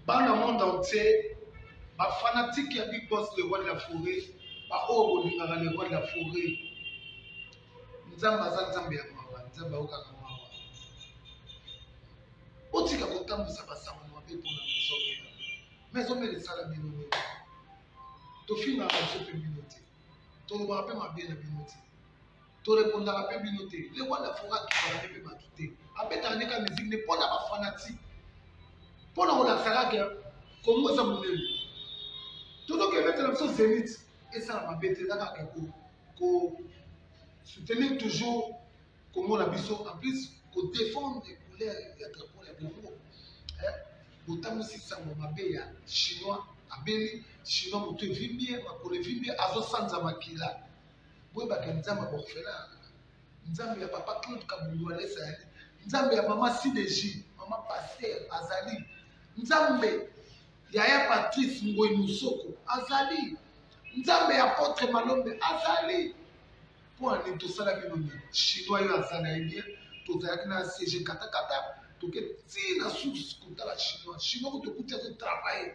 bana monde entier bafanatike ya big boss le roi de la foret baoyo bolingaka le roi de la foret nzambe aza nzambe ya mawa nzambe aokaka mawa botika kotambwisa basango mabe mpona mezomela mezomela esala bino nini tofingaka biso mpe bino te tolobaka mpe mabe na bino te torepondaka mpe bino te le roi la fora akitaka ne mpe bato te abetaka nde ka musique ne mpo na bafanatique mpo na kolakisa kaka kongo eza monene totoki ebetela biso zenit esala mabe te eza kaka ko soutenir toujours kongo na biso en plus kodefendre couleur ya drapo ya kongo botambwisi sango mabe ya chinois abeli chinois moto evimbi ye makolo evimbi ye azosanza makila boyebaka nzambe ya baorphelin nzambe ya papa claude kabundu alesa yali nzambe ya mama sideji mama paster azali nzambe ya ya patrice ngoi mosoko azali nzambe ya potre malombe azali mpo ani tosala bino nini chinois yo aza na ye bien tozalaki na cg katakata toke ti na source kotala chinois chinois ko tokuti azo travaille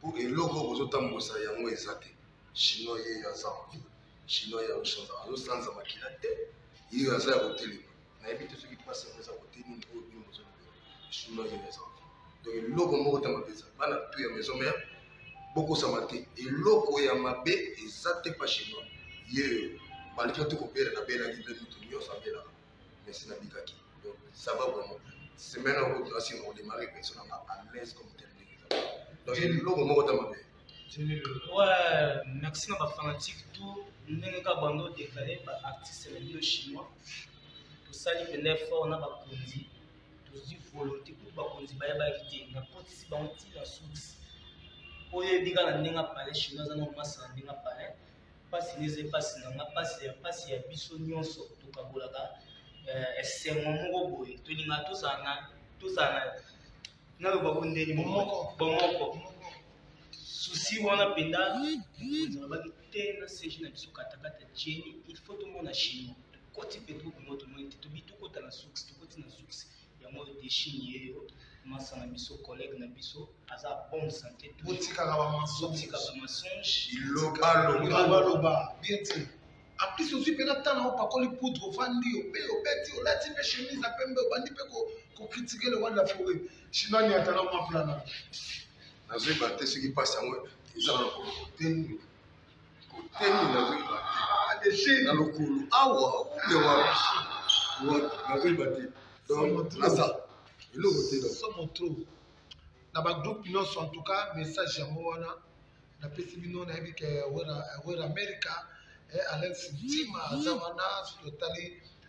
po eloko bozotambusa yango eza te chinois ye aza envi chinois ya oshonza azosanza makila te ye aza ya kotelema nayebi te soki mpasi yango eza kote nini oyo bino bozolobela chinois ye aza envi donc eloko moko ta mabe eza bana tu ya maison mère bokosama te eloko ya mabe eza te pa chinois yeyo malgré tout kobela nabelaki mpe moto nyonso abelaka mais si nabikaki donc ça va vraiment semaine oyo kutu nasi na kodemare pension nanga à l'aise comme tel ndenge eza donc eloko moko ta mabe ouais merci na bafanatique tout ndenge kaka bando deklare baartiste na bino chinois tosali mpenza effort na bakonzi tozwi volonté kutu bakonzi bayebaki te nakotisi bango ntina susi oyo eyebi kaka na ndenge apale chinois aza na omasa na ndenge apale mpasi na eza mpasi na nga mpasi ya mpasi ya biso nyonso tokabolaka eh, esengo moko boye tolinga tozala na tozala na naloba ko ndeni bomoko bomoko susi wana mpenza nalobaki te na sege na biso katakata jeni il faut tomona chino tokoti mpe tokomona tomoni te tobi tokota na suksi tokoti na suksi yango deshin ye yo masa na biso collègue na biso aza bonne santé totikaka bamasotikaka mensonge bilobaloba bien te en plus ozwi mpena ntango yango pakoli poudre ofandi ope obeti olati mpe chemise ya pembe obandi mpe kokritike le roi de la forêt chinois niatana mwa plana nazoyeba te soki mpasi yango eza na lokolo te teni nazoyeba te ah, na lokolo awa nde wapi wapi nazoyeba te donc naza eloko te somo trop na bagroupe nyonso en tout cas message yango wana napesi bino nayebi ke wera america eh, alex ntima aza wana soki otali